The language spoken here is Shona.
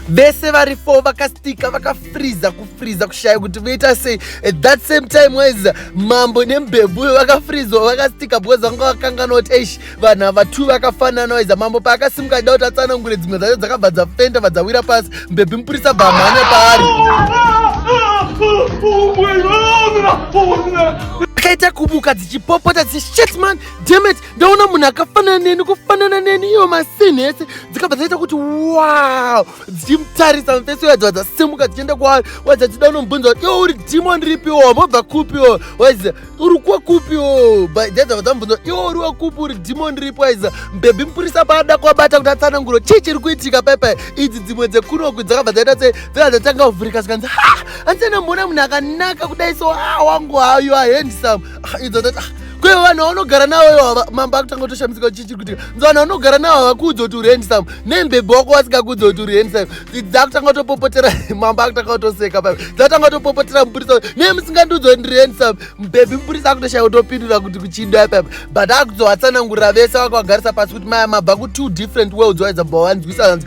vese vari four vakastika vakafriza kufriza kushaya kuti voita sei at that same time wise mambo nembebuyo vakafrizwa vakastika because vanga vakangana kuti eish vanhu ava two vakafanana wise mambo paakasimuka da kuti atsanangure dzimwe dzacho dzakabva dzafenda vadzawira pasi mbebhi mupurisa bamhanya paari akaita kubuka chipopota dzi shit man demet ndaona munhu akafanana neni kufanana neni iyo masini ese dzikabva dzaita kuti wow dzichimutarisa mufesi uya dzibva dzasimuka dzichienda kwaari wadza dzida unomubvunza kuti iwo uri demon ripiwo mobva kupiwo waiza uri kwekupiwo dzadzava dzamubvunza kuti iwo uri wekupi uri demon ripi waiza mbebhi mupurisa paada kuabata kuti atsananguro chii chiri kuitika paipai idzi dzimwe dzekunoku dzakabva dzaita sei Vela ndatanga kuvhurika zvikanzi ha handisana mbona munhu akanaka kudai so ha wangu hayo ahandisam idzo ndati ah, kwe vanhu vaunogara navo ivo mambo akutanga kutoshamisika chichi kuti nzi vanhu vaunogara navo havakuudza kuti uri handsam nembebho wako vasingakuudza kuti uri handsam dzakutanga kutopopotera mambo akutanga kutoseka pa dzakutanga kutopopotera mupurisa nemusingandiudza kuti ndiri handsam mbebhi mupurisa akutoshaya kutopindura kuti kuchidwa papa but akuzovatsanangurira vese vakavagarisa pasi kuti maya mabva ku two different worlds waizabva wanzwisa hanzi